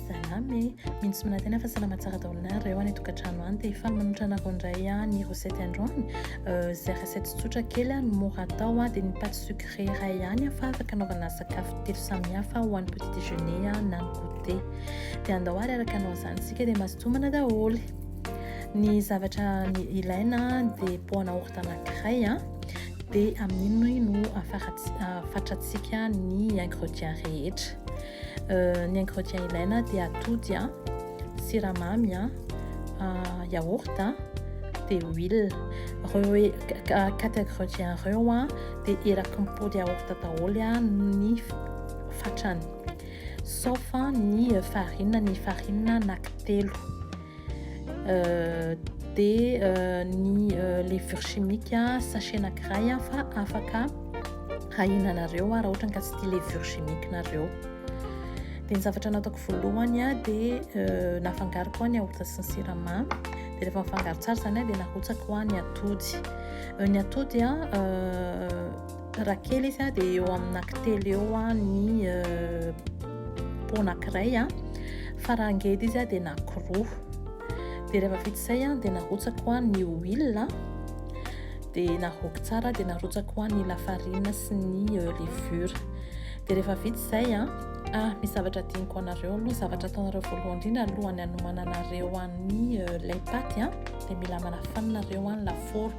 Salama e! Mino sy manantena fa salama tsara daholo nareo any an-tokantrano any. Dia hifaly manohitra anareo indray aho ny recette androany. Izay recette tsotra kely no mora atao dia ny pâte sucrée iray ihany fa afaka anaovana sakafo telo samihafa ho an'ny petit déjeuner na ny goûter. Dia andao ary araka anao izany isika dia mazotomana daholo. Ny zavatra ilaina dia poana orta anankiray dia amin'iny no afatratsika ny ingrédients rehetra. Ny ingrédients ilaina dia atody, siramamy, yaourt dia huile. Ireo quatre ingrédients ireo dia eraky ny pot de yaourt daholo ny fatrany sauf ny farine, ny farine anaky telo. dia ny levure chimique sachet anankiray fa afaka hahinanareo raha ohatra ka tsy tia levure chimique nareo dia ny zavatra nataoko voalohany dia nafangaroko ny yaourt sy ny siramamy dia rehefa nafangaro tsara izany dia narotsako ny atody ny atody Raha kely izy dia eo amin'ny anankitelo eo ny po anankiray fa raha ngeda izy dia anankiroa dia rehefa vita izay dia narotsako ny huile dia naroako tsara dia narotsako ny lafarina sy ny levure dia rehefa vita izay a ah misy zavatra diniko anareo aloha zavatra ataonareo voalohany indrindra alohan'ny hanomananareo an'ny lay paty a dia mila manafanina reo any lafaoro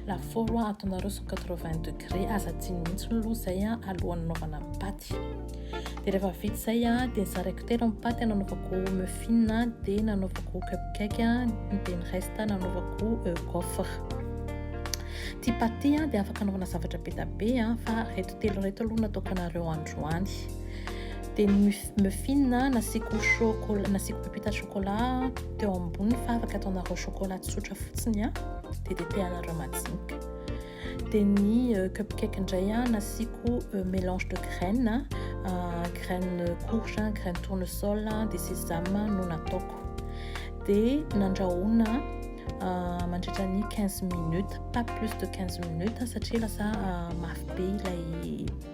Lafaoro hoa ataonareo cent quatre vingt degré aza adino mihitsy ny loha zay a alohan'ny anaovana ny paty dia rehefa vita zay a dia nizaraiko telo ny paty nanaovako muffin a dia nanaovako cupcake a dia ny reste nanaovako gaufre ty paty ty a dia afaka anaovana zavatra be da be a fa reto telo reto aloha nataoko anareo androany dia ny muffin a nasiako chocolat nasiako pepita chocolat teo ambony fa afaka ataonareo chocolat tsotra fotsiny a dia tetehana raha majinika dia ny euh, cupcake indray a nasiako euh, mélange de graine euh, graine courge graine tournesol dia sésame no nataoko dia nandrahoana mandritra ny 15 minutes pas plus de 15 minutes satria lasa mafy be ilay